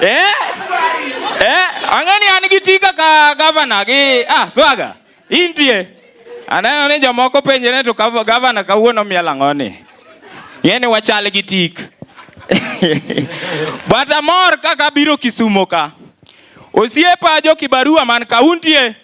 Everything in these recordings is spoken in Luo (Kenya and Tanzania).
Eh? Eh, ang'ani an gi tika ka gavana gi ah swaga. Intie. Aneno ni jomoko penjre to gavana kawuono miel ang'o ni? Ng'e ni wachal gi tik. But amor kaka biro Kisumo ka. Osiepa jo Kibarua man kaunti e.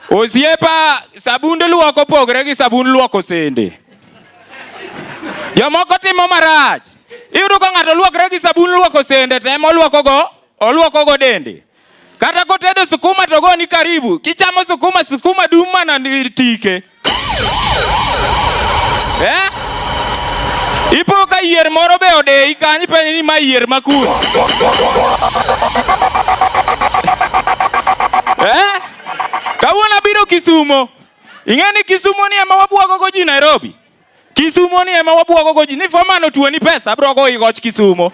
Osiepa, sabund luok opogore gi sabund luoko sende. Jomoko timo marach. Iyudo ka ng'ato luokre gi sabun luoko sende to ema oluokogo oluokogo dende. Kata kotedo sukuma to ogoni karibu. Kichamo sukuma, sukuma dum mana tike. Eh? Ipo ka yier moro be odeyi kanyo ipenjo ni ma yier ma kun. Eh? Kawuono abiro Kisumo. Ing'e ni Kisumo ni ema wabwagogo ji Nairobi. Kisumo ni ema wabwogo go ji ni fomano tuo ni pesa abro go igoch Kisumo.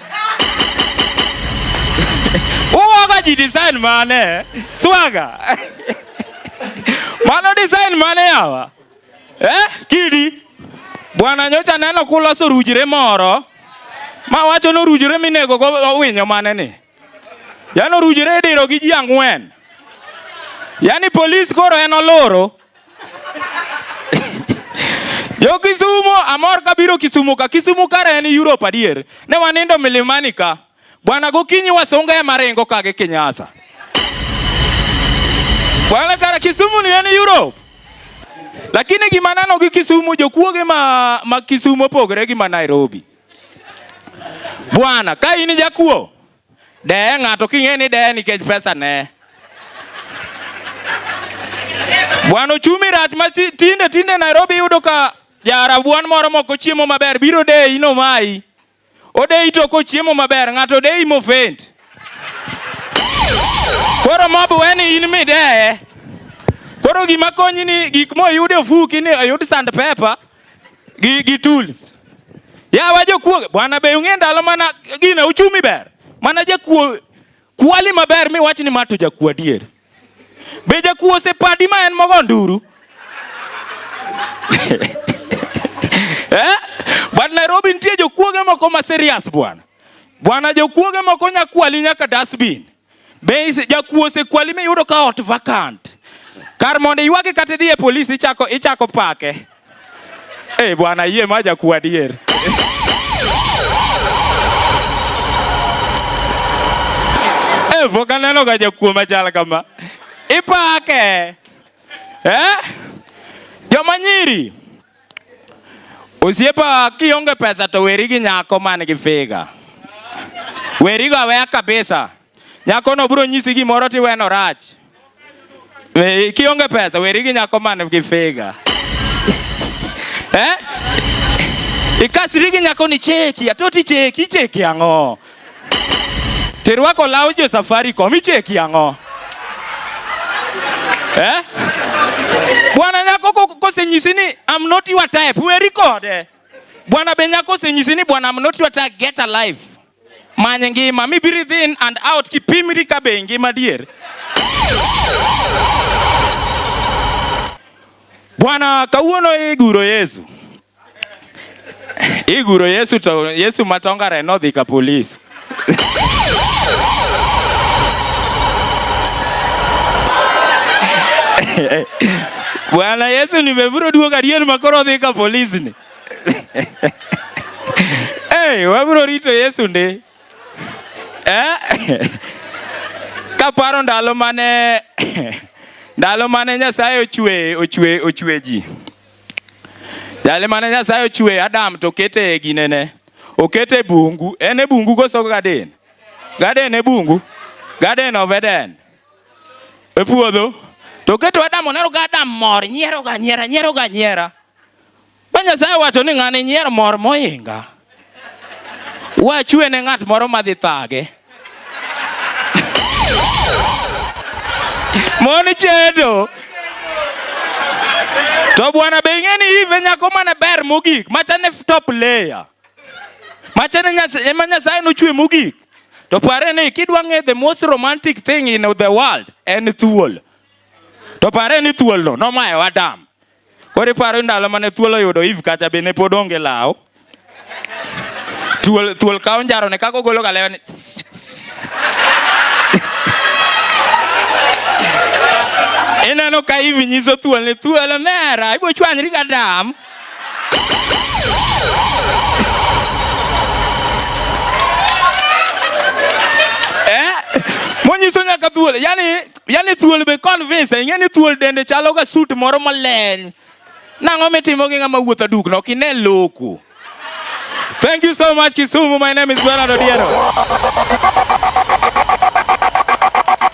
Uwoga ji design mane? Swaga. Mano design mane yawa? Eh, kidi. Bwana nyocha neno kuloso rujire moro. Ma wacho no rujire minego go owinyo mane ni. Yano rujire idiro gi ji ang'wen. Yaani polis koro en oloro. Jo Kisumo amor ka biro Kisumo ka. Kisumo kare en Europe adier. Ne wanindo milimani ka. Bwana gokinyi wasunga ya marengo ka gi Kinyasa. Bwana kare Kisumo ni en Europe. Lakini gima nano gi Kisumo jokuoge ma, ma Kisumo pogre gi ma Nairobi. Bwana ka in jakuo Deye ng'ato king'e ni deye nikech pesa ne. Bwana ochumi rach ma tinde tinde Nairobi yudo ka jarabuan moro moko chiemo maber biro deyi no mai. Odeyi to kochiemo maber ng'ato odeyi mofent. Koro mob weni in mideye. Koro gima konyi ni gik moyude ofuki ni oyud sand pepa. gi, gi tools yawa jokuoge bwana be ung'e ndalo mana gina uchumi ber mana jakuo kwali maber mi wach ni ma to jakuo adier be jakuo osepadi ma en mogo nduru eh? but Nairobi nitie jokuoge moko ma serious bwana bwana jokuoge moko nyakwali nyaka dustbin Be jakuo osekwali miyudo ka ot vacant? Kar mondo iywage kata idhi e polis ichako ichako pake. Eh, bwana yie ma jakuo adier. Eh, pok aneno ga jakuo machal kama. Ipake. Eh? Joma nyiri. Osiepa kionge pesa to weri gi nyako man gi figa. Weri go aweya kabisa. Nyako no bro nyisi gimoro ti weno rach. Eh, kionge pesa weri gi nyako man gi figa. eh? Ikasri gi nyako ni cheki, atoti cheki, cheki ang'o? Tirwako law jo Safaricom icheki ang'o? Eh? Bwana nyako kosenyisi ni I'm not your type, weri kode. Bwana be nyako osenyisi ni bwana I'm not your type, get a life. Many ngima, mi breathe in and out kipimri ka be ngima dier. Bwana kawuono iguro Yesu. Iguro Yesu to Yesu matongare nodhi ka polis. Bwana Yesu nimeburo duogo adier ma koro odhi ka polis ni. Hey, wabro rito Yesu ndi. Eh? Kaparo ndalo mane ndalo mane Nyasaye ochwe ochwe ochwe ji. Jali mane Nyasaye ochwe Adam to kete e ginene. Okete bungu. En e bungu koso gaden. Gaden e bungu. Gaden of Eden. E puodho. To keto Adam oneno ka Adam mor nyiero ga nyiera nyiero ga nyiera. Ba Nyasaye wacho ni ng'ani nyier mor moinga. Wachwe ne ng'at moro madhi thage. Mon chedo. To bwana be ing'e ni ive nyako mane ber mogik machane top layer. Machane ema Nyasaye nochwe mogik. To pare ni kidwa ng'e the most romantic thing in the world en thuol. To pare ni thuolno nomayo Adam. Koro iparo ndalo mane thuol oyudo Eve kacha be ne pod onge law. Thuol thuol kawo njaro ne kako golo galewa ni. Ineno ka Eve nyiso thuol ni thuol omera ibo chwanyri ka dam. Eh? Monyiso nyaka thuol. Yaani yani thuol be convince ing'e ni thuol dende chalo ga suit moro maleny nang'o mitimo gi ng'ama wuotho dukno ok ine loku thank you so much kisumu my name is bernard odiero